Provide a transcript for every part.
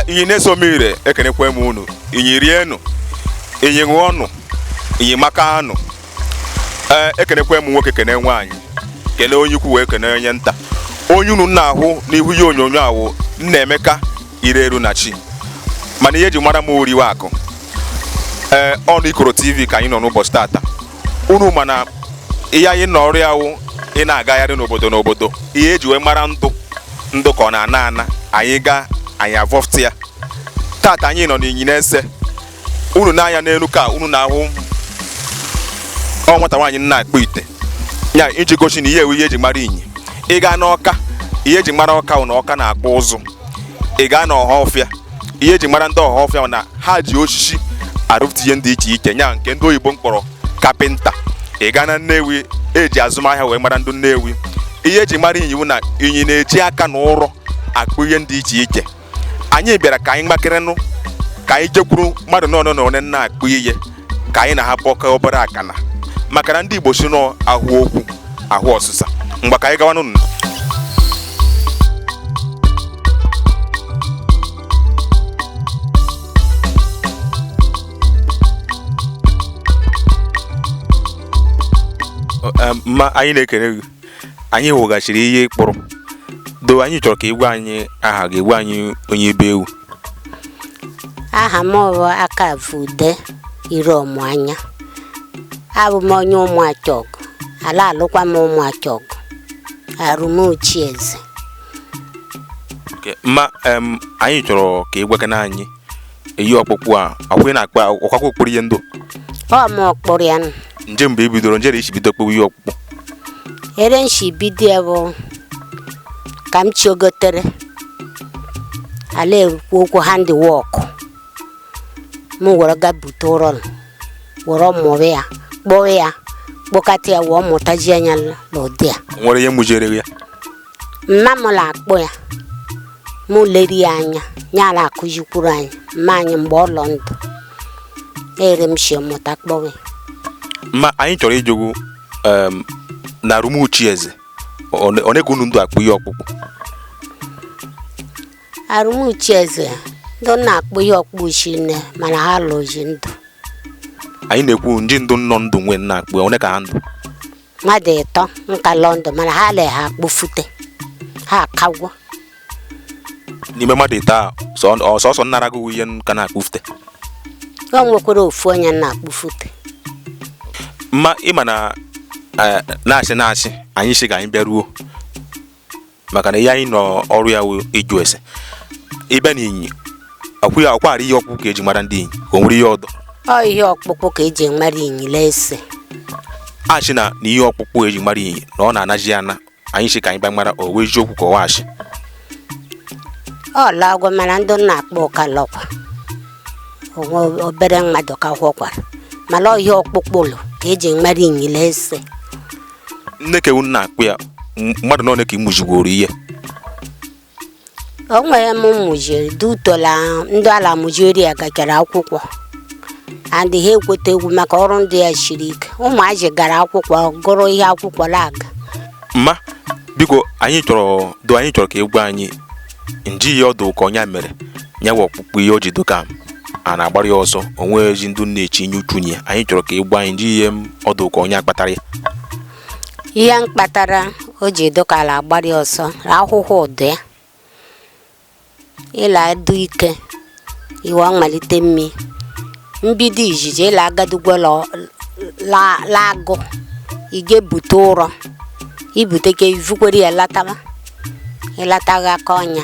inyi nese omire ekenekwe m unu inyi rienụ inyi ṅụọnụ inyi makaanụ ee ekenekwe m nwoke kene nwaanyị kene onye ukwu wee kene onye nta onye unu na-ahụ n'ihu ihe onyonyo a wụ nnaemeka ire eru na chi mana ihe eji mara m oriwe akụ ee ọnụ ikoro tv ka anyị nọ n'ụbọchị tata unu ma na ihe anyị nọ ọrụ ya wụ ịna-agagharị n'obodo n'obodo ihe eji wee mara ndụ ndụ ka ọ na-ana ana anyị gaa anyị avọfta ya tata anyị nọ n'inyi nese unu nee anya n'elu ka unu na-ahụ ọ nwata nwaanyị na-akpụ ite ya iji gosi na ihe a wụ ihe eji mara inyi ị gaa n'ọka ihe eji mara ọka wụ na ọka na-akpụ ụzụ ị gaa n'ọhafịa ihe eji mara ndị ọhafịa wụ na ha ji osisi arụpụta ihe ndị iche iche nya nke ndị oyibo mkpọrọ kapịnta ị gaa na nnewi eji azụmahịa wee mara ndị nnewi ihe eji mara inyi wụ na inyi na-eji aka na ụrọ akpụ ihe ndị iche iche anyị bịara ka anyị gbakerenụ ka anyị jekwuru mmadụ one na one na-akpụ ihe ka anyị na ha bọka obere akana maka na ndị Igbo si na a hụ okwu a hụ ọsịsa ngwa ka anyị gawanụ mma anyị na-ekele gị anyị hụgachiri ihe ị kpụrụ do anyị chọrọ ka ị gwa anyị aha gị gwa anyị onye ebe ị wụ aha m bụ Akavude Iromanya abụ m onye Ụmụachọgụ a la-alụkwa m Ụmụachọgụ Arumuchieze Okay, mma em, anyị chọrọ ka ị gwakana anyị ihe ọkpụkpụ a ọkwa ị na-akpụ ọkwakwa kpụrụ ihe ndụ ọ m kpụrụ ya nụ. nje mgbe i bidoro nje ere i si bido kpụwa ihe ọkpụkpụ ere m shi bido ya bụ ka m chiogotere a la-ekwu okwu handiwọk m were ga bute ụrọ nụ, were mụrụ ya kpụọ ya kpụkata ya wee mụtajia nya n'ụdị a O nwere onye mụjere gị ya mma m la-akpụ ya mụ leri ya anya ya a la-akụzikwuru anyị mma anyị mgbe ọ lọ ndụ ere m shi mụta kpụwe mma anyị chọrọ ịjụ gụ em, n'arumuchieze one ka unu ndụ akpụ ihe ọkpụkpụ arumuchieze ndị na-akpụ ihe ọkpụ shi nne mana ha alọghị ndụ anyị na-ekwu ndị ndụ nọ ndụ wee na-akpụ ya, one ka ha ndụ mmadụ ịtọ ka lọ ndụ mana ha alaha akpụfute ha akagwo n'ime mmadụ ite a sọsọ nnara gị ihe ka na-akpụfute ọ nwekwara ofu onye na-akpụfute mma ịma na eh, na-achị na-achị anyị si ka anyị bịaruo maka na ihe anyị nọ ọrụ ya wụ ịjụ ese ịbịa na inyi ọ kwara ihe ọkpụkpụ ka eji mara ndị inyi ka o nwere ihe ọdọ ọ ihe ọkpụkpụ ka eji mara inyi nese asị na na ihe ọkpụkpụ eji mara inyi na ọ na-anazi ana anyị si ka anyị bịa mara ọ wụ eziokwu ka ọ wụ asị ọ lagwo mana ndị na-akpụ ka lọkwa o nwe obere mmadụ ka họkwara mana ọ ihe ọkpụkpụ ka eji mara inyi nese nne ka ewu na-akpụ ya m- mmadụ na one ka ị mụzigworo ihe o nwere m mụjiri dị utola ndị ala mụjiri ya gachara akwụkwọ and ha ekweta egwu maka ọrụ ndị ya siri ike ụmụazị gara akwụkwọ gụrụ ihe akwụkwọ laga mma biko anyị chọrọ do anyị chọrọ ka ị gwa anyị nji ihe ọ dụ ka ọ nya mere ya wụ ọkpụkpụ ihe o ji dụ ka a na-agbara ya ọsọ o nwezi ndị na-echinye uchu na ya anyị chọrọ ka ị gwa anyị nji ihe ọ dụ ka ọ nya kpatara ya ihe mkpatara o ji dụ ka a la-agbara ya ọsọ ahụhụ dụ ya ị la-adụ ike i wee malite mmi mbido izizi ị la-agadugwo lọ- la- la agụ ị ga-ebute ụrọ i bute ka i vukwere ya lataba ịlataghị aka ọnya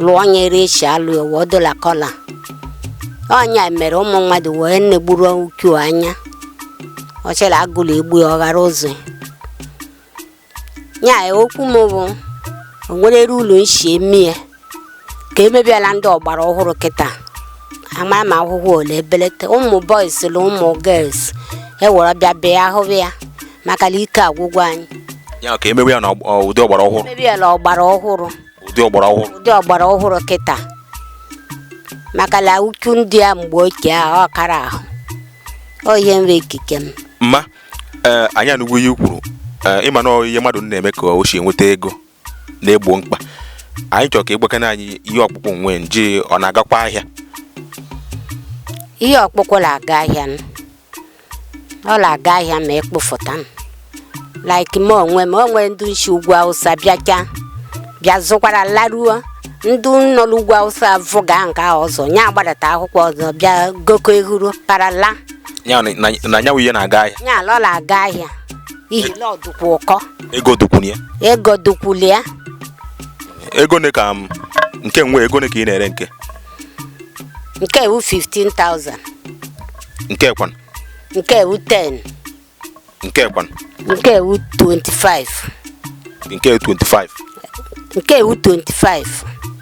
lụọ onye iri esi alụ ya wee dola kọla ọ nya mere ụmụ mmadụ wee na-egburu uchu anya ọ chere agụụ la-egbu ya ọ ghara ụzọ ya ya okwu m bụ o nwerere ụlọ nsi eme ya ka emebiela ndị ọgbara ọhụrụ kịta ama ma ahụhụ ọ la-ebelete ụmụ boys na ụmụ girls ewere bịa bịa hụba ya maka na ike agwụgwo anyị ya ka emewe ya na ụdị ọgbara ọhụrụ mebiela ọgbara ọhụrụ ụdị ọgbara ọhụrụ ụdị ọgbara ọhụrụ kịta maka na uchu ndị a mgbe ochie a ọ kara ahụ ọ ihe nwe ikike m mma ee anyị anụgwo ihe i kwuru ee ịma na ọ ihe mmadụ na-eme ka o si enweta ego na-egbo mkpa anyị chọrọ ka ịgbakana anyị ihe ọkpụkpụ nwe nje ọ na-agakwa ahịa ihe ọkpụkpụ na-aga ahịa m ọ na-aga ahịa ma akpụfụta m like m onwe m o nwe ndị nshi ugwu awụsa bịacha bịa zụkwara laruo ndị nọ n'ugwu awụsa vụga nke ahụ ọzọ ya agbadata akwụkwọ ọzọ bịa goko ehuru parala ya na- na na nya wụ ihe na-aga ahịa ya ọ la-aga ahịa ihe la ọ dụkwa ụkọ ego dụkwuru ya ego ne ka nke nwe ego ne ka ị na-ere nke nke e wu 15,000 nke kwan nke e wu 10 nke kwan nke e wu 25 nke 25 nke e wu 25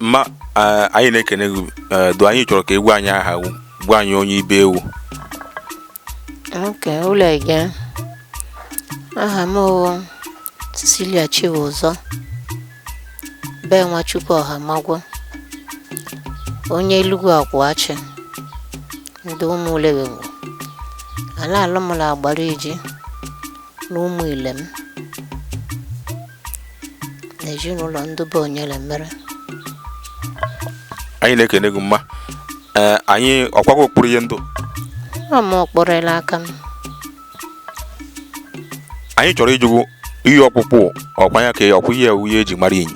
mma eh, anyị na-ekene gị eh, do anyị chọrọ ka ị gwa anyị aha gụ gwa anyị onye ibe ị wụ oke ụlọ ege aha m wụ Cecilia Chibuzo be Nwachukwu Ọhamagwọ onye Elugwu Akwụ Achị ndị ụmụ Ulewengwu a la-alụ mụ la Agbariji na ụmụ Ilem na ezinụlọ ndị be onyere mere anyị na-ekene gị mma ee anyị ọkwa gụ kpụrụ ihe ndụ ọ mụ kpụrụ la aka m anyị chọrọ ịjụ gụ ihe ọkpụkpụ ọkwa ya ka ọkwa ihe wụ ihe eji mara Inyi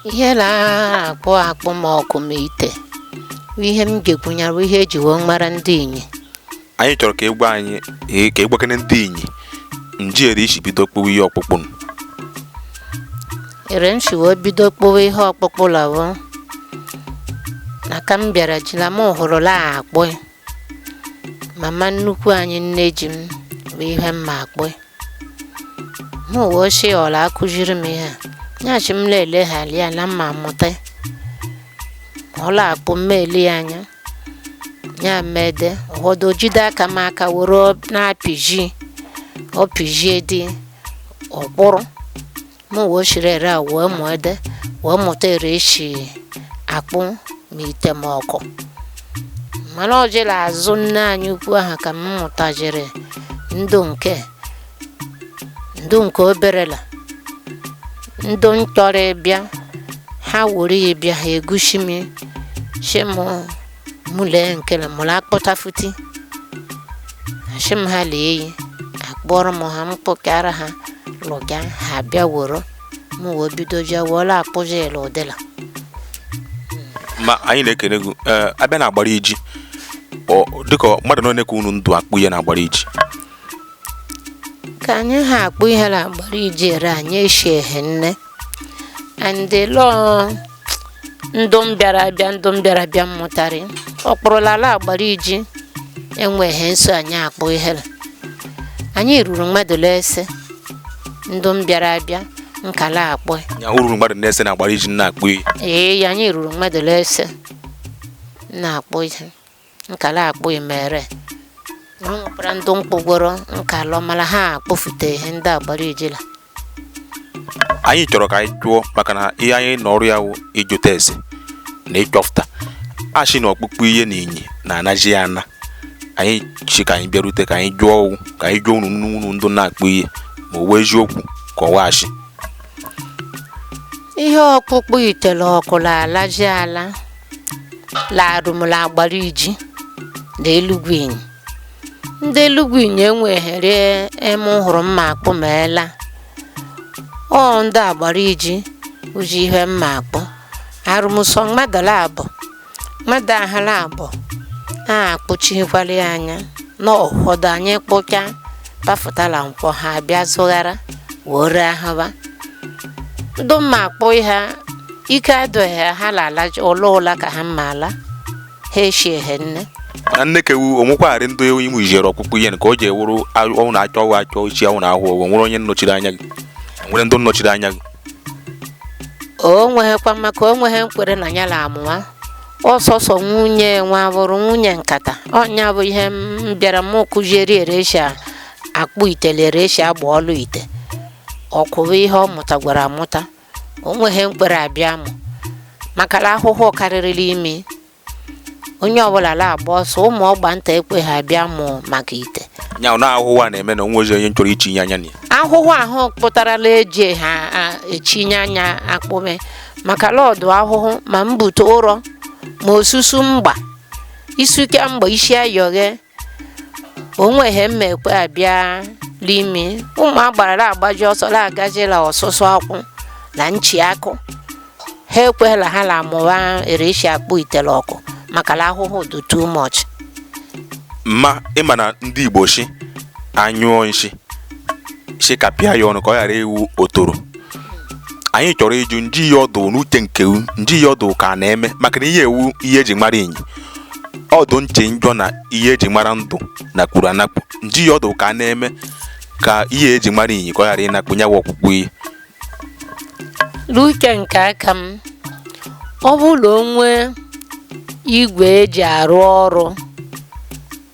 ihe a na-akpụ akpụ ma ọkụ ma ite bụ ihe m ga-ekwu nya wụ ihe eji wee mara ndị Inyi anyị chọrọ ka ị gwa anyị ee, ka ị gwakene ndị Inyi nji ere i si bido kpụwa ihe ọkpụkpụ nụ. ere m si wee bido kpụwa ihe ọkpụkpụ lọ wụ na ka m bịara ji la m hụrụ la-akpụ mama nnukwu anyị nne ji m bụ ihe mma akpụ m wee si ọ la-akụziri m ihe a nya sị m na-eleghara ya na m ma-amụta ọ la-akpụ m ele ya anya ya mede ụfọdụ jide aka m aka were na-apịji ọ pịjie ụdị ọ kpụrụ m wee siri ere a wee mụ ede wee mụta ere e si akpụ ma ite ma ọkụ mana ọ jere azụ nne anyị ukwu ahụ ka m mụtajiri ndụ nke ndụ nke obere la ndụ ntorobịa ha were ya bịa ha egosi m sị m mụ lee nke le mụ la-akpụtafuti asị m ha lee ya akpụrụ m ha m kpụkara ha lụga ha bịa woro m wee bido jee were akpụzi ya ụdị la mma anyị na-ekene gị ee a bịa na Agbariji ọ dịka mmadụ one ka unu dụ akpụ ihe na Agbariji ka anyị ha akpụ ihe na Agbariji ere anyị eshi ehi nne and la ndụ mbịara abịa ndụ mbịara abịa m mụtarị ọ kpụrụla ala Agbariji enweghị nso anyị akpụ ihe na anyị ruru mmadụ la ise ndụ mbịara abịa nke la-akpụ anyị ruru mmadụ na ise na Agbariji na-akpụ ihe ee anyị ruru mmadụ la ise na-akpụ ihe nkala akpụ imere ọ nwekwara ndị mkpụgwọrọ nkalọ mana ha akpụfute ihe ndị agbara ijila anyị chọrọ ka anyị jụọ maka na ihe anyị na ọrụ ya wụ ịjụta ese na ịchọfụta a shị na ọkpụkpụ ihe na inyi na-anaji ya ana anyị shị ka anyị bịarute ka anyị jụọ ọ wụ ka anyị jụọ unu unu ndụ na-akpụ ihe ma ọ wụ eziokwu ka ọ wụ ashị ihe ọkpụkpụ ite le ọkụ na-alaji ala la arụmụla agbara iji la elugwu inyi ndị elugwu inyi enweghere eme hụrụ mma akpụ ma ela ọ ndị agbara iji uji ihe mma akpụ arụmụsọ mmadụ laabọ mmadụ aha laabọ akpụchikwala anya na ụfọdụ anyị kpụcha pafụtala nkwọ ha abịa zụghara wee ree ahụba ndị mma akpụ ha ike adụghị ha ha lala ụlọ ụla ka ha mma ala ha eshie ha nne na nnekewu o nwekwarị ndị iwu ijere ọkpụkpụ ihe ka o ji ewuru ọnwụ na achọ ọgwụ achọ ichi ọnwụ na ahụ ọgwụ nwere onye nnọchiri anya gị nwere ndị nnọchiri anya gị o nweghịkwa maka o nweghị nkwere na ya la-amụwa ọsọsọ nwunye nwa bụrụ nwunye nkata ọnya bụ ihe m bịara m kụzieri ereshi akpụ ite le ereshi agba ọlụ ite ọkwụwa ihe ọ mụtagwara amụta o nweghị nkwere abịa mụ maka na ahụhụ karịrị la imi onye ọbụla na-agba ọsọ ụmụ ọgba nta ekwe ha bịa mụ maka ite nya na ahụhụ a na-eme na o nwezi onye chọrọ ichinye anya na ya ahụhụ ahụ pụtarala eji ha a- echinye anya akpụme maka la ọ dụ ahụhụ ma mbute ụrọ ma osusu mgba isuke mgba isi ayọghe o nweghị mma ekwe abịa l'imi ụmụ agbara la-agbaji ọsọ la agajila ọsụsụ akwụ na nchi akụ ha ekweghị la ha la-amụwa ereshi akpụ ite le ọkụ maka na ahụhụ dị too much ma ị ma na ndị igbo shị a nyụọ nshị shị kapịa ya ọnụ ka ọ ghara ịwụ ọtọrọ anyị chọrọ ịjụ nji ya ọ dụ n'uche nke u nji ya ọ dụ ka a na-eme maka na ihe a wụ ihe eji mara inyi ọ dụ nche njọ na ihe eji mara ndụ na kwuru anakpu nji ya ọ dụ ka a na-eme ka ihe eji mara inyi ka ọ ghara ịnakpu nya wụ ọkpụkpụ ihe n'uche nke aka m ọ bụrụ na o nwee igwe eji arụ ọrụ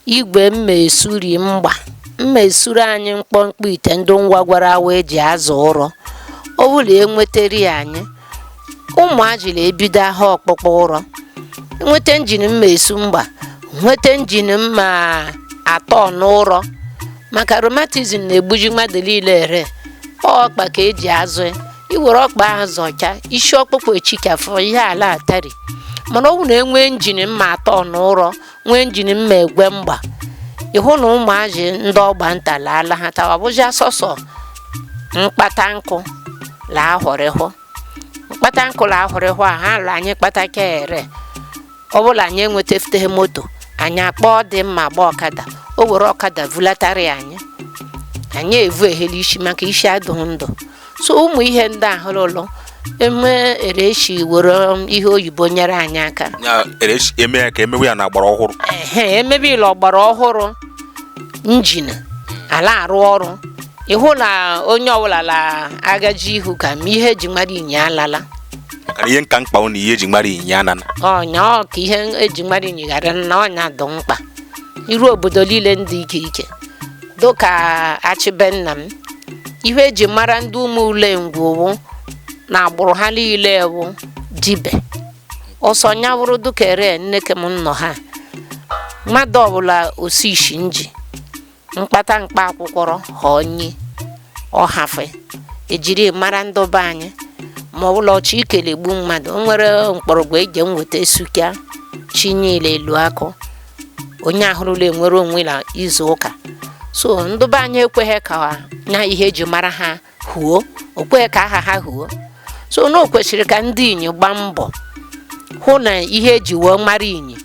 Igwe mma esuri mgba mma esuri anyị mkpọmkpọ ite ndị nwagwara awa eji azọ ụrọ ọ bụ la e nweteri anyị ụmụ ajịla ebido aha ọkpụkpụ ụrọ nweta njin mma esu mgba nweta njin mma atọ n'ụrọ maka rheumatism na-egbuji mmadụ niile ere ọ ọkpa ka eji azọ ya i were ọkpa ahụ zọcha isi ọkpụkpụ echikafụ ihe ala atari mana ọ bụrụ na e nwee njin mma atọ n'ụrọ nwee njin ma egwe mgba ịhụ na ụmụazị ndị ọgba nta laala ha tawa bụzi asọsọ mkpata nkụ la ahụrịhụ mkpata nkụ la ahụrịhụ a ha la anyị kpata ka ere ọ bụla anyị enwetafuteghị moto anyị akpọọ ndị ma agba ọkada o were ọkada vulatara ya anyị anyị evuhe la isi maka isi adụghị ndụ so ụmụ ihe ndị a hụrụ ụlọ eme ereshi were ihe oyibo nyere anyị aka ya ereshi eme ya ka emewe ya na ọgbara ọhụrụ ehe emebe ya la ọgbara ọhụrụ njin a la arụ ọrụ ịhụ na onye ọbụla la agaji ihu ka ma ihe eji mara inyi alala maka na ihe nka mkpa ụnụ ihe eji mara inyi anana ọ nya ọ ka ihe eji mara inyi ghara na ọ nya dị mkpa iru obodo niile ndị ike ike dịka achị be nna m ihe eji mara ndị ụmụ ule ngwu wụ na agbụrụ ha niile wụ dibe ọsọ nya wụrụ dịka ere nneke m nọ ha mmadụ ọbụla osi isi nji mkpata mkpa akwụkwọrọ ha onyi ọhafe ejiri mara ndị be anyị ma ọ bụla ọchị ike la egbu mmadụ o nwere mkpọrọgwụ eji enweta esuka chinye la elu akụ onye ahụrụla enwere onwe na izu ụka so ndị be anyị ekweghị ka na ihe eji mara ha huo o kweghị ka aha ha huo so na o kwesịrị ka ndị inyi gbaa mbọ hụ na ihe eji wee mara inyi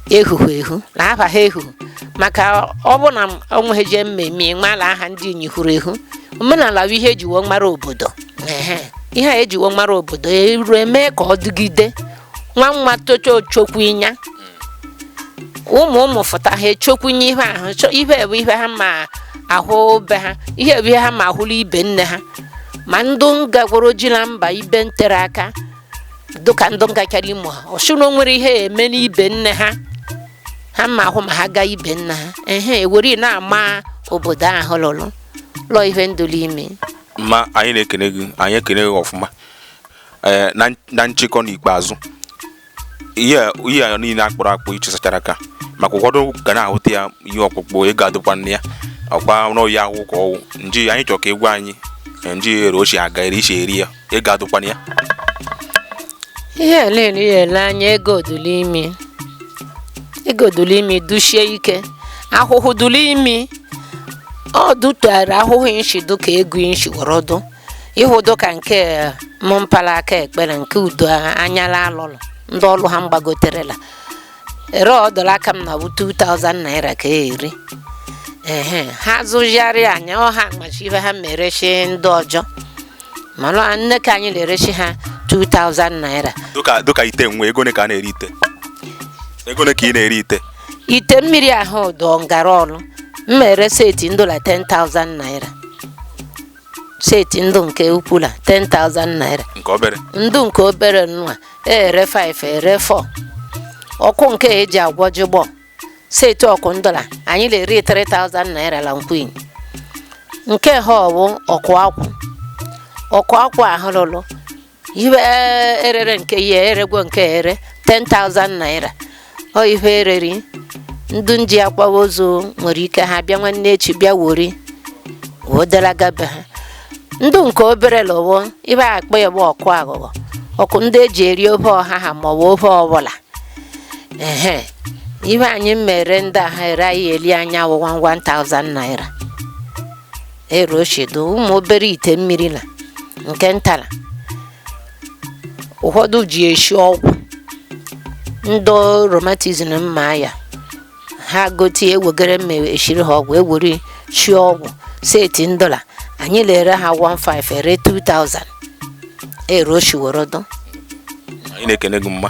ehuhu ehu na aha ha ehuhu maka ọ bụ na o nweghị jee mmemme ịmala aha ndị inyi huru ehu omenala bụ ihe eji wee mara obodo ehe ihe a eji wee mara obodo erue mee ka ọ dịgide nwa nwa tocha ọ chọkwụ nya ụmụ ụmụ fụta ha achọkwụ nya ihe ahụ chọ- ihe bụ ihe ha ma ahụ be ha ihe bụ ihe ha ma ahụ la ibe nne ha ma ndụ ngagworo ije na mba ibe ntere aka dịka ndụ ngachara imo ha ọ sịrị na o nwere ihe eme n'ibe nne ha ha ma ahụ ma ha gaa ibe nna ha ehe ewere na-ama obodo ahụ lụrụ lụọ ihe ndụlụ ime ma anyị na-ekene gị anyị ekene gị ọfụma ee eh, na nchịkọ n'ikpeazụ ihe ihe a niile akpụrụ akpụ ichesachara aka maka ụfọdụ ga na-ahụta ya ihe ọkpụkpụ ego adụkwa na ya ọkwa n'oyi ahụ ka ọwụ nji anyị chọrọ ka ị gwa anyị eh, nji ere ochie aga ere isi eri ya ego adụkwa na ya ihe ele ihe ele anya ego dụlụ imi ego dụlụ imi dushie ike ahụhụ dụlụ imi ọ dụtara ahụhụ inshi dụ ka ego inshi wọrọ dụ ịhụ udu ka nke mụ pa la aka ekpere nke udu a- anyala alụlụ ndị ọlụ ha mgbagoterela ere ọdọla aka m na bụ 2000 naira ka ere ehe ha zụgharị anya ọha machi ife ha erechi ndị ọjọ mana nne ka anyị na-erechi ha 2000 naira dịka dịka ite nwe ego ole ka a na-ere ite ego ole ka ị na-ere ite ite mmiri ahụ dọ ngara ọlụ m ere seti ndọla 10,000 naira seti ndọ nke ukwu la 10,000 naira nke obere ndọ nke obere nwa ere 5 ere 4 ọkụ nke eji agwọ jigbọ seti ọkụ ndọla anyị na-ere 3000 naira la nkwin nke ha ọ wụ ọkụ akwụ ọkụ akwụ ahụ lụlụ ihe e rere nke ya eregwo nke ere 10,000 naira ọ ihe ereri ndị nji akwawa ozu nwere ike ha bịa nwanne echi bịa wori wodalaga be ha ndọ nke obere lowo ihe a kpọ ya bụ ọkụ aghụghọ ọkụ ndị eji eri ofe ọha ha maọbụ ofe ọbụla ehe ihe anyị mere ndị a ha ere anyị eli anya wụ 1000 naira ero o shi dọ ụmụ obere ite mmiri la nke ntala ụfọdụ ji eshi ọgwụ ndị rheumatism mma ya ha gotie ewegere mma eshiri ha ọgwụ ewere shi ọgwụ seti ndọla anyị la-ere ha 15 ere 2000 ero o shi woro dọ anyị na-ekene gị mma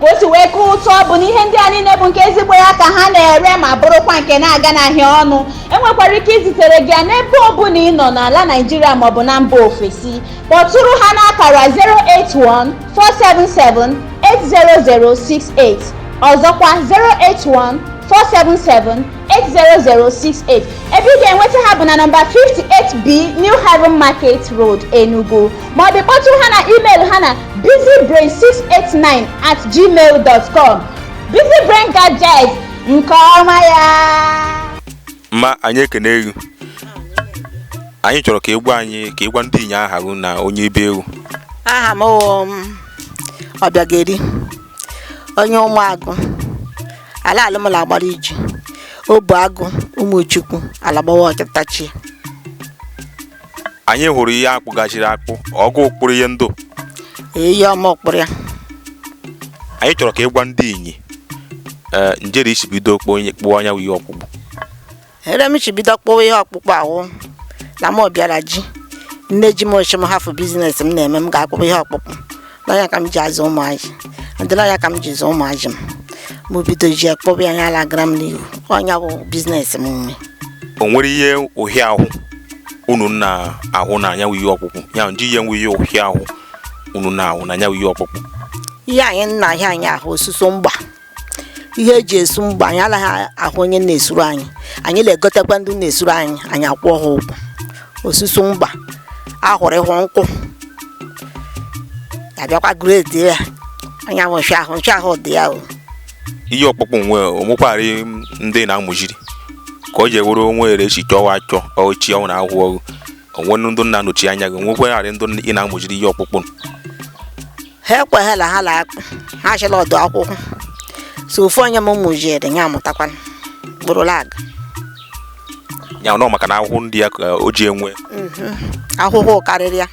ka o si wee ka ụtọ bụ na ihe ndị a niile bụ nke ezigbo ya ka ha na-ere ma bụrụkwa nke na-aganaghị ọnụ enwekwara ike izitere gị ya n'ebe ọ bụla ị nọ n'ala Naịjirịa maọbụ na mba ofesi kpọtụrụ ha n'akara 081-477-80068 ọzọkwa 081 477-80068 ebe ị ga-enweta ha bụ na nọmba 58B New Haven Market Road Enugu ma ọ bụ kpọtụ ha na email ha na busybrain689 at gmail dot com busybrain gadget nke ọma ya mma anyị ekene gị anyị chọrọ ka ị gwa anyị ka ị gwa ndị Inyi aha gị na onye ebe ị wụ aha m wụ m Ọbịageri onye Ụmụagụ a la-alụ m la Agbariji Obuagụ Ụmụchukwu alagbawa ọchịtachi anyị hụrụ ihe a kpụgachiri akpụ ọ gụ kpụrụ ihe ndọ iye ọ mụ kpụrụ ya anyị chọrọ ka ị gwa ndị Inyi ee njere i shi bido kpụọ onye kpụọ anya ihe ọkpụkpụ ere m shi bido kpụwa ihe ọkpụkpụ a wụ na m bịara ji nne ji m o shi m hafụ biznes m na-eme m ga-akpụkpụ ihe ọkpụkpụ na ya ka m ji azụ ụmụazị adịla ya ka m ji zụ ụmụazị m mụ bido ji kpụba ya ya lagara m n'ihu ọ nya bụ biznes m nwe o nwere ihe ọhịa ahụ unu na-ahụ na nya wụ ihe ọkpụkpụ ya ndị ihe nwe ihe ọhịa ahụ unu na-ahụ na nya wụ ihe ọkpụkpụ ihe anyị na-ahịa anyị ahụ osusu mgba ihe eji esu mgba anyị alaghị ahụ onye na-esuru anyị anyị na-egotekwa ndị na-esuru anyị anyị akwụọ ha ụgwọ osusu mgba ahụrụ ịhụ nkwụ abịakwa gredi ya onye ahụ nche ahụ dị ya o ihe ọkpụkpụ nwe o nwekwara ndị na-amụjiri ka o ji ewuru o nwere echi chọwa achọ ochi ọnwụ na ahụhụ ọgụ o nwe ndị na-anọchi anya gị o nwekwara ndị ị na-amụjiri ihe ọkpụkpụ ha ekweghela ha la-akpụ ha chị la ọ dụ ahụhụ so ofu onye m mụjiri ya amụtakwana bụrụ lag ya nọ maka na ahụhụ dị ya ka o ji enwe ahụhụ karịrị ya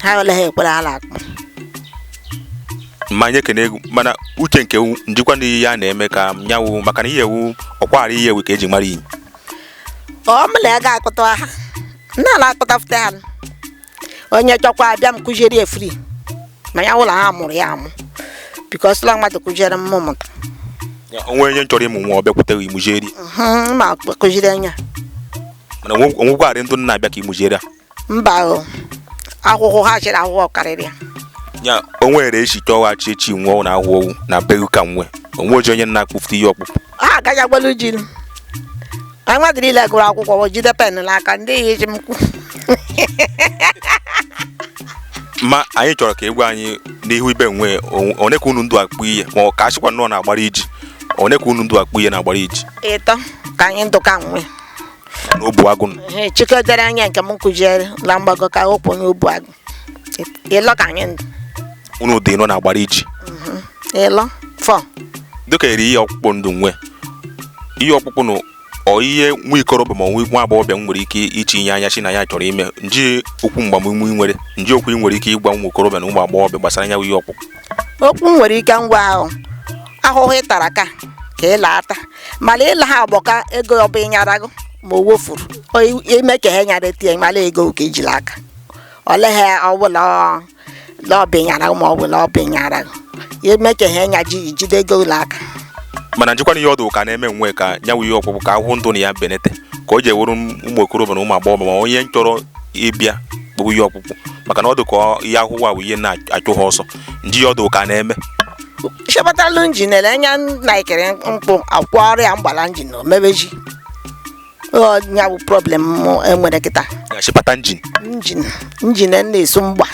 ha ole ha ekwere ha na-akpụ ma anyị ekene egwu mana uche nke wu- njikwa ndị ya na-eme ka nya wụ maka na ihe ewu ọkwara ihe ewu ka eji mara iyi ọ mụ la ya ga-akpụta ha nna na-akpụfụta ha onye chọkwa abịa m kụziere ya fri ma ya ụlọ ha mụrụ ya amụ bikos ụlọ mmadụ kụziere m mụ mụta Ya, o nwere onye chọrọ ịmụ nwa ọ bịakwutere imuzieri Mhm, ma kụziere anya mana o nwekwarị ndị na-abịa ka imuzieri a mba o ahụhụ ha chịrị ahụhụ karịrị ya ya o nwere echi chọghachi echi nwụọ na ahụhụ na be ka nwe onwe oji onye na-akpụfute ihe ọkpụkpụ ha agaghị gbalu ji nụ. anyị mmadụ niile gụrụ akwụkwọ wee jide pen n'aka ndị ihe eji m kwu ma anyị chọrọ ka egwu anyị n'ihu ibe nwe onwe- one ka unu ndụ akpụ ihe ma ọ ka achịkwa nnọọ na-agbara iji one ka unu ndụ akpụ ihe na-agbara iji ịlọ ka anyị ndụ ka nwe na obu agụ nọ. Ee, chike dere anya nke m kụziere na mgbago ka okwu onye obu agụ ịlọ ka anyị ndụ unu ụdị ịnọ na-agbara iji ịlọ fọ dịka eri ihe ọkpụkpụ ndụ nwe ihe ọkpụkpụ na ọ ihe nwa ikorobịa ma nwa nwa agbọghọbịa nwere ike itinye anya chi na ya chọrọ ime nji okwu mgbamume ị nwere nji okwu ị nwere ike ịgwa ụmụ okorobịa na ụmụ agbọghọbịa gbasara ya bụ ihe ọkpụkpụ okwu m nwere ike ịgwa ha ahụhụ ị tara ka ka ị laata mana ịla ha agbọ ka ego ọbụ ịnyara gụ ma o wofuru o ime ka ha nyara tie mala ego ka i ji la aka ọleghị ọbụla lọbịnyara ma ọ bụla ọbịnyara ime ka ha nya ji jide ego la aka mana njikwana ihe ọ dụ ka na-eme nwe ka nya wụ ihe ọkpụkpụ ka ahụhụ dụ na ya benete ka o ji ewuru ụmụ okorobịa na ụmụ agbọghọ ma onye chọrọ ịbịa kpụrụ ihe ọkpụkpụ maka na ọ dị ka ọ- ihe ahụhụ a bụ ihe na-achụ ha ọsọ nji ihe ọ dụ ka na-eme chepụtalụ njin ele anya na ikere mkpụ akwọrịa mgba la njin na omebeji Ọ ya bụ problem mụ enwere kịta ya chịpata njin njin njin na-esu mgba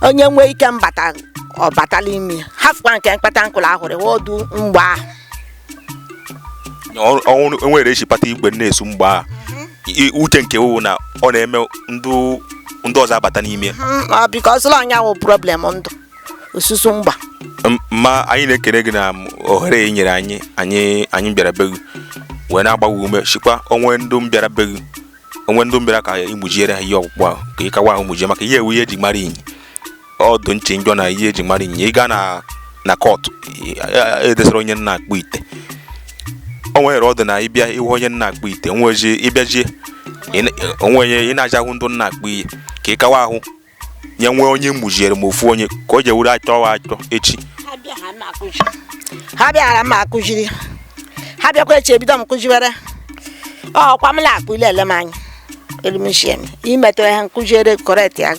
onye nwee ike mbata ọ batala ime hafụkwa nke mkpata nkụlụ ahụrụ ọdụ mgba ahụ Ọ- ọ- o nwere e chịpata igwe na-esu mgba I- uche nke wụ na ọ na-eme ndụ ọzọ abata n'ime ya. Mm, ọ bikọ ọsụlọ ọ nya wụ problem ndụ osusu mgba M- ma anyị na-ekele gị na ohere ị nyere anyị anyị anyị bịara be gị wee na-agbaghị ume chịkwa o nwe ndụ bịara be gị o nwe ndụ bịara ka ị mụjiere ha ihe ọkpụkpụ ahụ ka ị kawa ahụ mụjie maka ihe ọ wụ ihe eji mara Inyi ọ dụ nchị njọ na ihe eji mara Inyi ị gaa na na kọtụ edesara onye na-akpụ ite o nwere ọ dụ na ị bịa ịhụ onye na-akpụ ite nwezie ịbịajie ị na- o nwe onye ị na-aja ahụ ndụ na-akpụ ihe ka ị kawa ahụ nye nwee onye mụjiere ma ofu onye ka o jewuru achọ wa achọ echi ha bịara m akụziri ha bịakwa echi ebido m kụziwere ọkwa m na-akpụ ị la-ele m anya elimchie m ị metụ ihe m kụziere correct ya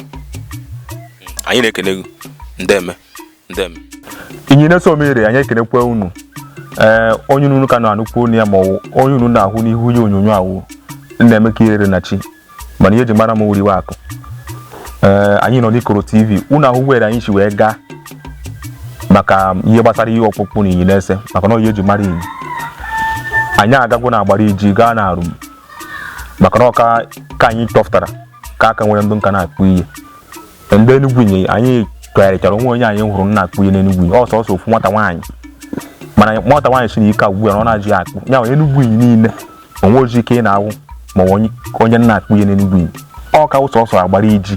anyị na-ekene gị ndeme ndeme inyinese omire anyị ekenekwa unu ee onye unu ka na-anụkwu onu ya ma ọ wụ onye unu na-ahụ n'ihu ihe onyonyo a wụ nnaemeka iherenachi mana ihe eji mara m wụ oriwe akụ ee anyị nọ n'ikoro tv unu ahụ were anyị si wee gaa maka ihe gbasara ihe ọkpụkpụ na inyinese maka na ọ ihe eji mara inyi anyị agagwo na agbariji gaa na arum maka na ọka ka anyị chọpụtara ka a ka nwere ndụ nka na-akpụ ihe ndị Enugu Inyi anyị chọgharịchara o nwe onye anyị hụrụ na-akpụ ihe n'Enugu Inyi ọ wụ sọsọ ofu nwata nwaanyị mana nwata nwaanyị sị na ike agwụ ya na ọ nazị akpụ ya wụ Enugu Inyi niile o nwezi ike ị na-ahụ ma onye na-akpụ ihe n'Enugu Inyi ọ ka wụ sọsọ Agbariji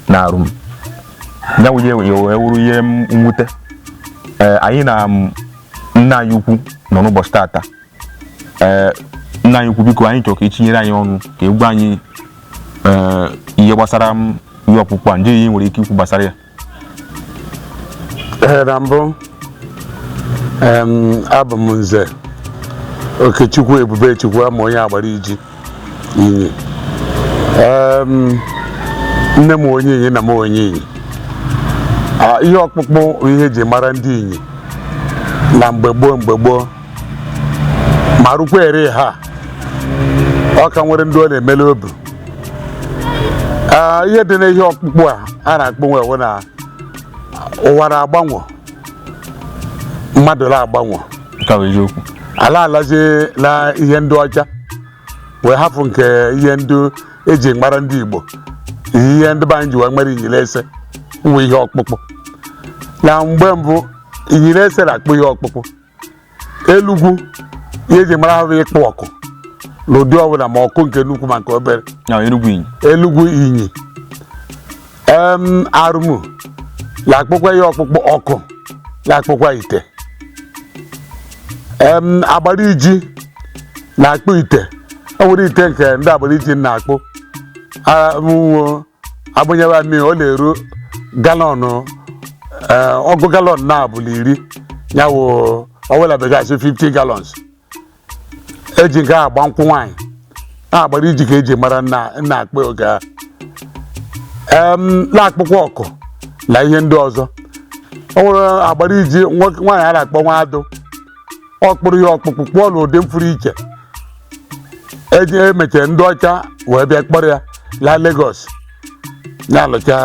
na Arum ya wụ wee wụrụ ihe mwute anyị na nna anyị ukwu nọ n'ụbọchị tata ee nna anyị ukwu biko anyị chọrọ ka i tinyere anyị ọnụ ka ị gwa anyị ee ihe gbasara ihe ọkpụkpụ a ndị ihe i nwere ike ikwu gbasara ya Ee, na mbụ em, abụ m Nze Okechukwu Ebubechukwu Ama onye Agbariji inyi nne m wụ onye inyi nna m wụ onye inyi ihe ọkpụkpụ ihe eji mara ndị inyi na mgbe gboo mgbe gboo ma rukwa ere ha ọ ka nwere ndị ọ na-emele obi ihe dị na ihe ọkpụkpụ a a na-akpụ nwe na ụwa na-agbanwe mmadụ la-agbanwe Nke a bụ eziokwu. a la-alazie na ihe ndị ọcha wee hafụ nke ihe ndị eji mara ndị Igbo ihe ndị be anyị ji wee mere Inyinese nwe ihe ọkpụkpụ na mgbe mbụ Inyinese na-akpụ ihe ọkpụkpụ elugwu ihe eji mara ha bụ ịkpụ ọkụ n'ụdị ọbụla ma ọkụ nke nnukwu ma nke obere na Enugu Inyi Elugwu Inyi em Arụmụ na-akpụkwa ihe ọkpụkpụ ọkụ na-akpụkwa ite em Agbariji na-akpụ ite ọ nwere ite nke ndị Agbariji na-akpụ a- mụnwo agbanyere mmiri ọ na-eru galọnụ ee, ọgụ galọn naabọ la iri ya wụ ọ wụ la Bekee a sị 50 gallons eji nke agba nkwụ nwaanyị na Agbariji ka eji mara nna nna akpa oge a em na-akpụkwa ọkụ na ihe ndị ọzọ o nwere Agbariji nwoke nwaanyị a na-akpọ nwa adụ ọ kpụrụ ihe ọkpụkpụ kpụọ n'ụdị mfụrụ iche eji emechara ndị ọcha wee bịa kpọrọ ya laa Lagos ya lụcha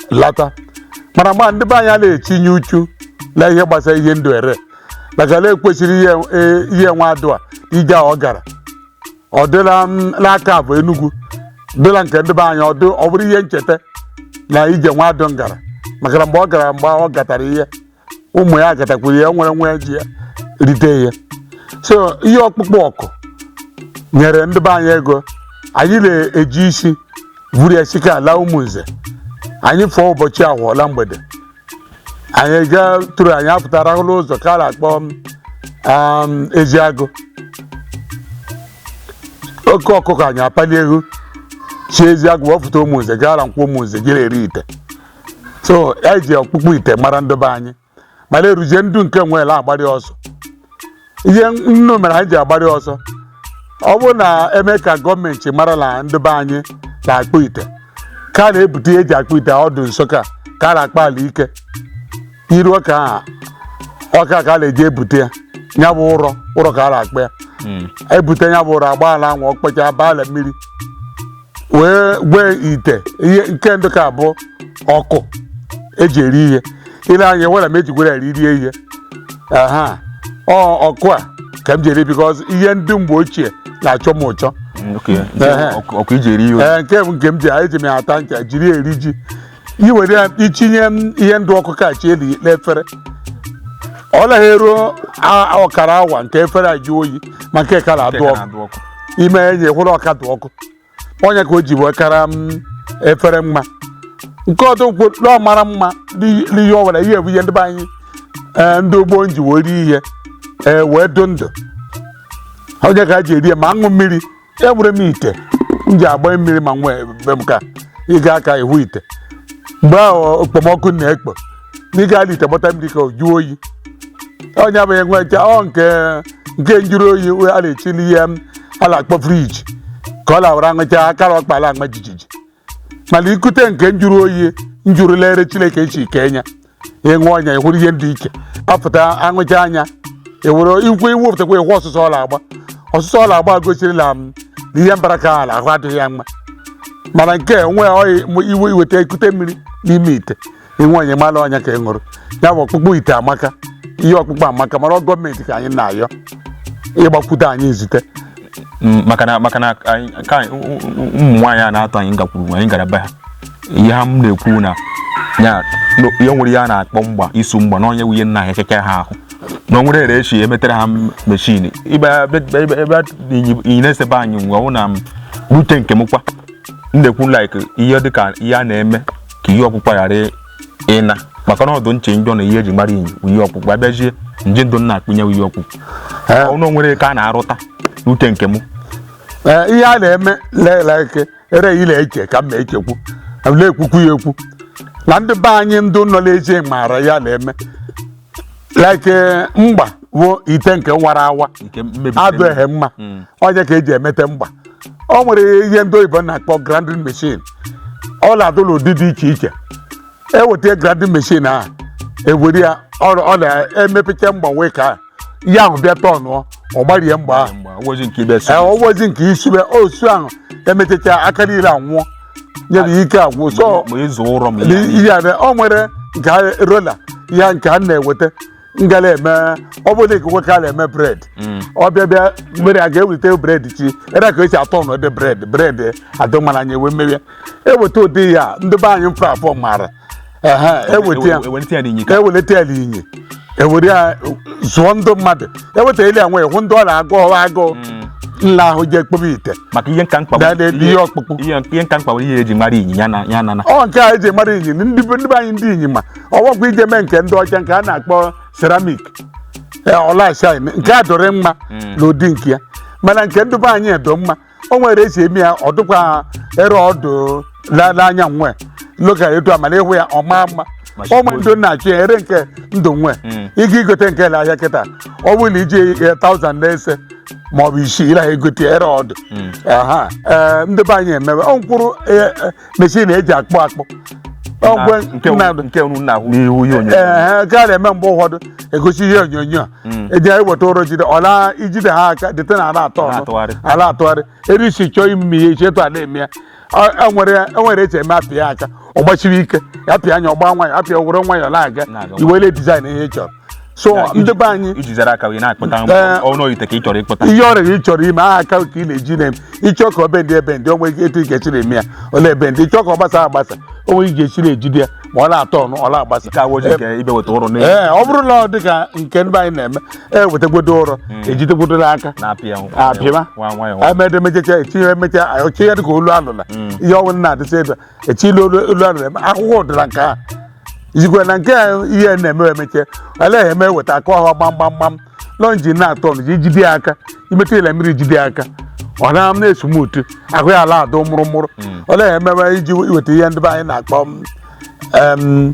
lata mana mgbe ndị be anyị na-etinye uchu na ihe gbasara ihe ndere maka na ekwesịrị ihe e- ihe nwa adụ a ije a ọ gara ọ dị la archive Enugu dị la nke ndị be anyị ọ dị- ọ bụrụ ihe ncheta na ije nwa adụ ngara maka na mgbe ọ gara mgbe ọ gatara ihe ụmụ ya gatakwuru ya nwere nwa ji ya rite ya so ihe ọkpụkpụ ọkụ nyere ndị be anyị ego anyị na-eji isi vuru ya si ka ala Ụmụnze anyị fụọ ụbọchị Ahọ la mgbede anyị gatụrụ anyị apụta rahụ la ụzọ ka a na-akpọ um, Eziagụ oke ọkụkọ anyị apalie ivu si Eziagụ wee pụta Ụmụnze gara Nkwọ Ụmụnze jere ree ite so e ji ọkpụkpụ ite mara ndị be anyị mana eruje ndị nke nwere agbari ọsọ ihe nnu mere anyị ji agbari ọsọ ọ bụrụ na eme ka gọọmenti mara na ndị be anyị na-akpụ ite ka a na-ebute ihe eji akpụ ite ọdụ Nsụka ka a na-akpọ ala ike iru ọka ahụ ọka ka a na-eji ebute ya ya bụ ụrọ ụrọ ka a na-akpọ ya ebute ya bụ ụrọ agbaa la anwụ ọ kpọchaa baa la mmiri wee gwee ite ihe nke ndụ ka bụ ọkụ eji eri ihe i lee anya wera m ejigwere eri rie ihe aha ọ ọkụ a ka m ji eri because ihe ndị mgbe ochie na-achọ m ụchọ Ehe. ọkụ eji eri ihe ee nke m nke m ji eji m ya ata ncha jiri eri ji i were ya itinye m ihe ndụ ọkụ kachi eli n'efere ọ naghị eruo a- a- ọkara awa nke efere ajụọ oyi ma nke ka na-adụ Nke ka ọkụ na-adụ ọkụ. ime enye hụrụ ọ ka dụ ọkụ ọ ya ka o ji wee kara efere mma nke ọdụ nkwo na ọ mara mma n'i- n'ihe ọ nwere ihe bụ ihe ndị be anyị ee, ndị ugbo nji wee rie ihe ee, wee dụ ndụ ọ ya ka a ji eri ya ma aṅụ mmiri enwere m ite m ji agba mmiri ma nwee be m ka ị gaa ka ịhụ ite mgbe ahụ okpomọkụ na-ekpo na ị gaala ite gbata mmiri ka ọ jụọ oyi onye abụghị nwecha ọ nke nke njụrụ oyi we- a na-echili ihe a na-akpọ friji ka ọ lawara aṅụcha aka la ọkpa ala aṅụ jijiji mana ikute nke njụrụ oyi njụrụ l'ere chineke shi kee nya ị ṅụọ nya ịhụrụ ihe ndị ike apụta aṅụcha nya ewere ikwu iwepụtakwa ịhụ ọsụsọ ọ la-agba ọsụsọ ọ la-agba gosirila m na ihe mbara ka ala ahụ adịghị ya mma mana nke a, onwe ọyị iwe iweta ikute mmiri n'ime ite ị ṅụọ nya mala ọ nya ka ị ṅụrụ ya bụ ọkpụkpụ ite amaka ihe ọkpụkpụ amaka mala gọọmenti ka anyị na-ayọ ịgbakwute anyị nzute Mm, maka na maka na anyị ka anyị- ụ- ụ- ụmụ nwaanyị a na-atụ anyị gakwuru anyị gara be ha ihe ha m na-ekwu na ya na ihe nwere ihe a na-akpọ mgba isu mgba na onye nwunye nna ha ekeke ha ahụ na o nwere ere eshi emetere ha m- meshin ibe ebe ebe- ebe inyi- inyi nese be anyị ngwa ọ na m rute nke m kwa m na-ekwu like ihe dịka ihe a na-eme ka ihe ọkpụkpụ ghara ịna maka na ọ dụ nche njọ na ihe eji mara inyi wụ ihe ọkpụkpụ abịazie nje ndụ na-akpụ nya ihe ọkpụkpụ ọnụ nwere ka a na-arụta rute nke mụ ihe a na-eme like ere ile eche ka m na-echekwu na-ekwukwu ya ekwu na ndị be anyị ndị nọ n'ezi maara ya na-eme like eh, mgba bụ ite nke nwara awa nke mmebi adụ ehe mma ọ nya ka eji emete mgba o nwere ihe ndị oyibo na-akpọ grinding machine ọ na-adụ n'ụdị dị iche iche eweta grinding machine ahụ ewere ya ọ ọ na-emepecha mgba wee ka ya ahụ bịa tọnụọ ọ gbarie mgba ahụ mgba ozi nke ibe Ee, ọ bụzi nke isube osu ahụ emechacha aka niile anwụọ ya bụ ike agwụ so ma ịzụ ụrọ ma ihe ihe a na- o nwere nke a rola ya nke a na-eweta ngala eme ọ bụrụ na ikekwe ka a na-eme bred ọ bịa bịa mmiri a ga-eweta bred chi ere ka esi atọ n'ụdị bred bred adụ mala anyị ewe mmiri ya eweta ụdị ya ndị be anyị mfe afọ mara Aha, eweta ya ewelite ya n'inyi ka eweleta ya n'inyi ewere ya zụọ ndị mmadụ eweta ele ya nwee hụ ndị ọ na-agụ ọwa agụụ nla ahụ ji ekpobe ite maka ihe nka mkpa Dada ebe ihe ọkpụkpụ. ihe ihe nka mkpa nwere ihe eji mara inyi ya na ya na na ọ nke a eji mara inyi ndị be ndị be anyị ndị inyi ma ọwakwa i je mee nke ndị ọcha nke a na-akpọ ceramic ọ la-shine nke a dụrụ mma n'ụdị nke ya mana nke ndị be anyị adụ mma o nwere esi eme ya ọ dịkwa ere ọ dụ la- n'anya nwe local etu mala ị hụ ya ọ maa mma Ma ọ ma ndụ na-achụ ya ere nke ndụ nwe Mm. ịga igote nke n'ahịa kịta ọ bụrụ na iji ya taụzand nese ma ọ bụ isii ị la-egote ere ọ dụ aha ee ndị be anyị emewe ọ mkpụrụ meshin eji akpụ akpụ ọgwe nke mmadụ nke unu na-ahụ n'ihu ihe onyonyo ee ka a na-eme mgbe ụfọdụ egosi ihe onyonyo eji anyị weta ụrọ jide ọla ijide ha aka dịte na a la-atọnụ Na-atụgharị. a la-atụgharị ere esi chọọ ime ihe iche etu a na-eme ya Ọ- enwere enwere esi eme apịa ya aka ọ gbasiri ike ya pịa anya ọ gbaa nwayọ apịa were nwayọ na-aga Na-aga iwele dizaịn ihe ị chọrọ so Ya, ndị be anyị iji zara aka wee na-akpụta Ee. ọnụ ite ka ị chọrọ ịkpụta ihe ọ bụla ị chọrọ ime aha aka ka ị na-eji na-eme ị chọọ ka ọ bendị ebendị o nwe ike etu ị ga-esi na-eme ya ọ na-ebendị ị chọọ ka ọ gbasa agbasa o nwe ị ga-esi na-ejide ya ma ọ na-atọnụ ọ na-agbasa ka woji nke ibe weta ụrọ n'elu ee ọ bụrụ na ọ dị ka nke ndị be anyị na-eme e wetegwodo ụrọ ejidegwodo n'aka na-apịa ahụ apịma nwa nwayọ emedemejecha etinye emecha ọchị ya dị ka olu alụla ihe ọnwụ na-adịsị ebe eche ilu olu olu a na-eme ahụhụ ụdịrị nke a izikwe na nke a ihe na-eme emeche olee ihe eweta aka ọha gbamgbamgbam lọ njin na-atọnụ ji jide ya aka imetụ ya la mmiri jide ya aka ọ na na-esmuutu ahụ ya a la-adụ mụrụmụrụ olee ihe emewe iji iweta ihe ndị be anyị na-akpọ m, em,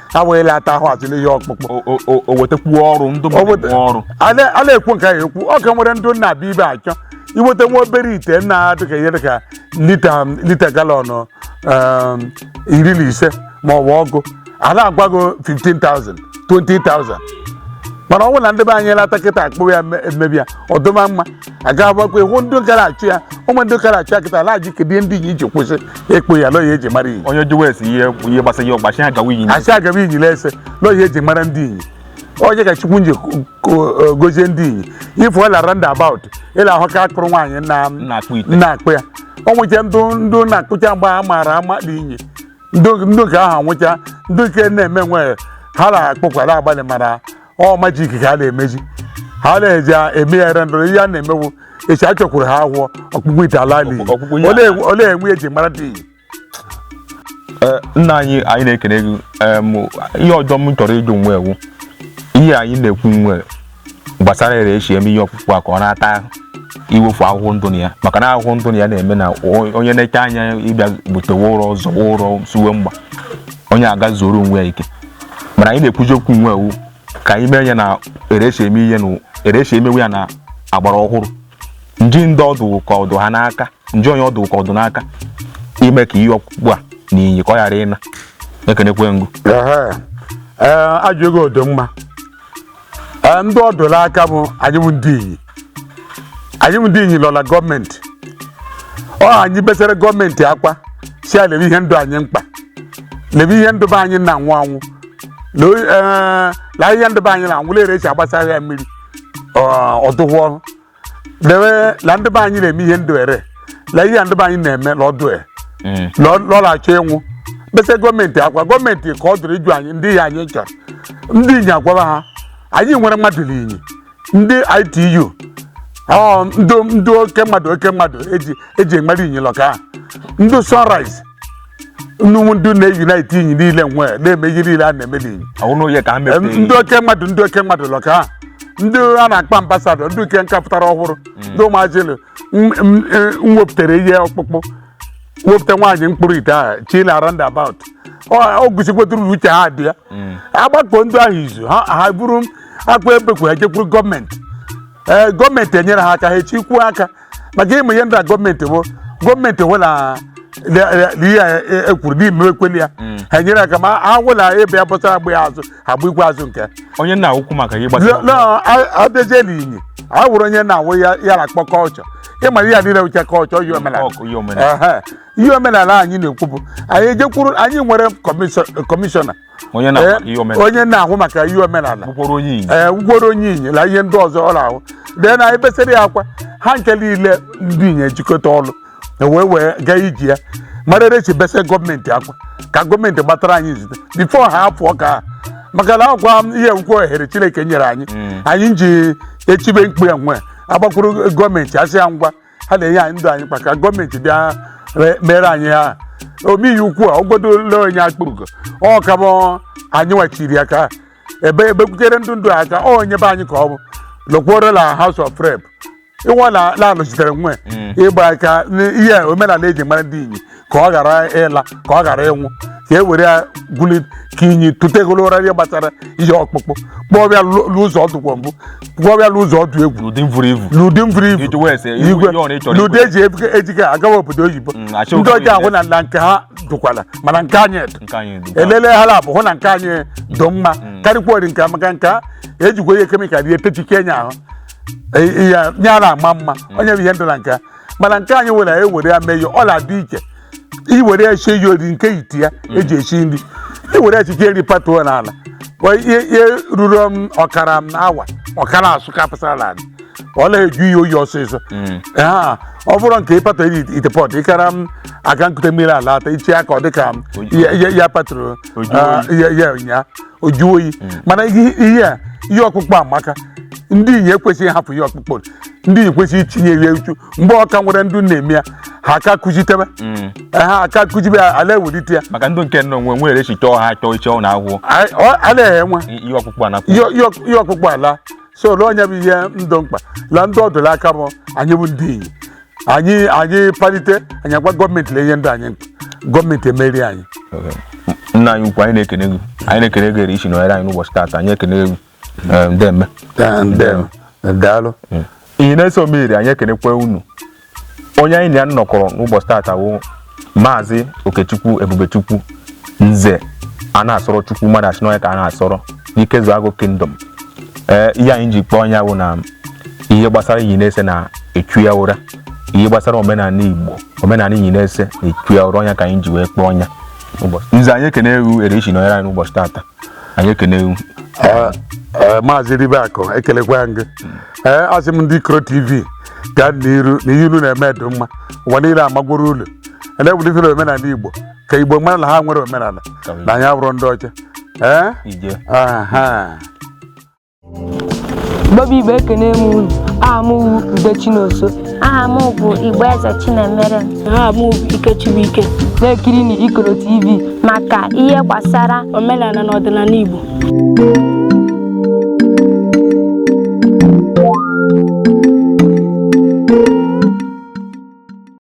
ha wee lata ahụ azụ n'ihe ọkpụkpụ O- o- o- o wetakwuo ọrụ ndụ O weta- mmadụ ọrụ a na- a na-ekwu nke ahụ ekwu ọ ka nwere ndị na-abịa ebe a achọ iweta nwa obere ite na dịka ihe dịka lita lita galọn um, iri na ise ma ọ bụ ọgụ a na-agwa gị 15,000 20,000 mana ọ bụrụ na ndị be anyị lata kịta akpụ ya eme- emebi ya ọ dụma mma aga agbakwa ịhụ ndị gara achọ ya ụmụ ndị gara achọ ya kịta ala ji kedu ndị Inyi ji kwụsị ịkpụ ya la ọ ya eji mara Inyi onye jụwa esi ihe ihe gbasara ihe ọgbachi ha gawa Inyi asị agaba Inyi na-ese la ọ ya eji mara ndị Inyi ọ ya ka Chukwu nji gozie ndị Inyi ife ọla roundabout ị la-ahụ ka a kpụrụ nwaanyị na na-akpụ ite na-akpụ ya o nwecha ndụ ndụ na-akpụcha mgbe a maara ama ndị Inyi ndụ ndụ nke ahụ nwụcha ndụ nke na-eme nwere ha na-akpụkwara abalị mara ọ majik ka a na-emezi ha na-eji eme ya ere ndọrọ ihe a na-emewu echi a chọkwuru ha ahụọ ọkpụkpụ ite ala n'Inyi Ọkpụkpụ ihe Olee- ala. olee enwe eji mara ndị Inyi Ee, nna anyị anyị na-ekele gị em, ihe ọjọ m chọrọ ịjụ nwe wụ ihe anyị na-ekwu nwe gbasara ere esi eme ihe ọkpụkpụ a ka ọ na-ata iwefu ahụhụ ndụ na ya maka na ahụhụ ndụ na ya na-eme na o- onye na-eche anya ịbịa butewe ụrọ zọwa ụrọ suwe mgba onye aga zuoro onwe ya ike mana anyị na-ekwuzi okwu nwe wụ ka anyị mee ya na ere esi eme ihe na ere esi emewe ya na agbara ọhụrụ nji ndị ọ dụ ka ọ dụ ha n'aka nji onye ọ dụ ka ọ dụ n'aka ime ka ihe ọkpụkpụ a na Inyi ka ọ ghara ịna ekenekwe ngụ Ehe. Ee, ajụjụ gị dị mma Ee, ndị ọ dụ la aka bụ anyị bụ ndị Inyi anyị bụ ndị Inyi lọla gọọmenti ọ anyị besara gọọmenti akwa sị ya lebe ihe ndụ anyị mkpa lebe ihe ndụ be anyị na-anwụ anwụ na o- ee, na ihe ndụ be anyị na-anwụ la ere esi agbasara ya mmiri ọ- ọ dụhụ ọrụ dewe la ndị be anyị na-eme ihe ndụ ere la ihe ndị be anyị na-eme la ọdụ e Mm. la ọ- la ọ na-achọ ịnwụ bese gọọmenti akwa gọọmenti ka ọ dụrụ ịjụ anyị ndị ihe anyị chọrọ ndị inyi agwaba ha anyị nwere mmadụ n'inyi ndị ITU ọ ndị ndị oke mmadụ oke mmadụ eji eji amara inyi lọka ha. ndị sunrise nnukwu ndị na-eyunite inyi niile nwe na-eme ihe niile a na-eme n'inyi ọwụ na oye ka ha Em, mepee ndị oke mmadụ ndị oke mmadụ lọ ka ha ndị a na-akpọ ambasadọ ndị nke nka pụtara ọhụrụ ndị ụmụazị elu m- m- e- m wepụtara ihe ọkpụkpụ wepụta nwaanyị mkpụrụ ite ahụ chi na roundabout o gosikwetụrụ uche ha dị ya agbakọ ndị ahụ izu ha ha buru akwa ebekwu ha jekwuru gọọmenti ee gọọmenti enyere ha aka ha echikwuo aka maka ịmụ ihe ndị a gọọmenti bụ gọọmenti hụ la ihe a e- ekwuru n'ime ekweli ya ha nyere aka ma ha hụ la ebe ya bọtara agba ya azụ agba ikwe azụ nke onye na-ahụkwu maka ihe gbasara abịazie n'inyi a wụrụ onye na-awụ ya ya na-akpọ kọlchọ ịma ihe a niile wuche kọlchọ ihe omenala ọ wụ ihe omenala Ehe. ihe omenala anyị na-ekwu bụ anyị ejekwuru anyị nwere kọmishọ- kọmishọna onye na Eh, ihe omenala onye na-ahụ maka ihe omenala bụkwara onye Igbo ee wụkworo onye inyi na ihe ndị ọzọ ọ na-ahụ dee na ebesere ya akwa ha nke niile ndị inyi jikọta ọnụ wee wee gaa iji ya mara ere si bese gọọmenti akwa ka gọọmenti gbatara anyị nzute bifo ha apụọ ka ha maka na akwa ihe nkwa ohere chineke nyere anyị anyị ji echibe mkpu ya nwe agbakwuru gọọmenti asị ya ngwa ha na-enye anyị dụ anyị mkpa ka gọọmenti bịa re- mere anyị ihe a omeihe ukwu a ọ godu la onye Akpugo ọ ka bụ anyị nwa chịrị aka ebe ebekwutere ndụ ndụ aka ọ onye be anyị ka ọ bụ lọkwuoro na house of rep ịwa na na-anọchitere nwe ịgba aka n'ihe omenala eji mara ndị inyi ka ọ ghara ịla ka ọ ghara ịnwụ ka e were ya gwuli ka inyi tetegoro ụra ihe gbasara ihe ọkpụkpụ kpụbe ya n'ụzọ ọ dụkwa mbụ kpụbe ya n'ụzọ ọ dụ egwu n'ụdị mvuru ivu n'ụdị mvuru ivu Iji wee sị, igwe igwe ihe ọ na ịchọrọ n'ụdị igwe. eji ebuga- ejiga agawa obodo oyibo Mm, achọ ndị obodo ọzọ ahụ na na nke ha dụkwala mana nke anyị dị nke anyị dị elele ha laabọ hụ na nke anyị dị mma karịkwara nke a maka nke a ejikwa ihe kemikal ihe techike nya ahụ ya na-ama mma onye bụ ihe ndụ na nke a mana nke anyị nwere ewere ya mee ya ọ na-adị iche iwere ya sie ya ọ wụrụ nke ite a eji esi nri iwere ya chiche nri patuo n'ala Kwa ihe ihe ruru m ọkara m awa ọ ka na-asụ kapụsara n'ala ọ na-eju ihe oyi ọsịsọ Ha, ọ bụrụ nke ịpatụ eri ite pọt ịkara m aga ikute mmiri alata ichi ya aka ọ dị ka m- ya- ya- ya patụrụ Oju ah, ya ya ụnyaa o jụọ oyi mana ihe ihe a ihe ọkpụkpọ amaka ndị inyi ekwesịghị ịhapụ ihe ọkpụkpọ ndị inyi kwesịrị itinye ya uchu mgbe ọ ka nwere ndụ na-eme ya ha aka kụjitebe ha aka kụjibe ya ala ewelite ya maka ndị nke nọ nwe nwere echi chọọ ha chọọ iche ọ na-ahụ A- ọ- a na-enwe ihe ọkpụkpọ anakwu ihe ihe- ihe ọkpụkpọ ala so ole onye bụ ihe ndụ mkpa la ndị ọ dụ l'aka bụ anyị bụ ndị inyi anyị anyị palite anyị agwa gọọmenti na ihe ndị anyị gọọmenti emeere anyị nna anyị ukwu anyị na-ekene gị anyị na-ekene gị ere i si nọnyere anyị n'ụbọchị taata anyị ekene gị ndeme daalụ mm. Inyinese Omire anyị ekenekwe unu onye anyị na ya nọkọrọ n'ụbọchị taata wụ Maazị Okechukwu Ebubechukwu Nze a na-asọrọ Chukwu mmadụ asị n'ọnya ka a na-asọrọ n'Ikezuagụ Kingdom ee ihe anyị ji kpọọ ya wụ na ihe gbasara Inyinese na-echu ya ụra ihe gbasara omenala Igbo omenala Inyinese na-echu ya ụra ọ nya ka anyị ji wee kpọọ nya nze anyị ekenee gụ ere i si nọnyere anyị n'ụbọchị taata anyị ekene gị. Ee, ee, Maazị Ribeakụ ekelekwa gị ee asị m ndị Ikoro TV gaa n'iru na ihe unu na-eme dị mma ụwa niile amagworo ulu na-ewulitere omenala igbo ka igbo mara na ha nwere omenala na anyị abụrụ ndị ọcha ee ije aha Igbo bụ Igbo ekene m unu aha m wụ Ude Chinoso aha m bụ Igboeze Chinemere aha m bụ Ikechibuike na-ekiri na Ikoro TV maka ihe gbasara omenala na ọdịnala Igbo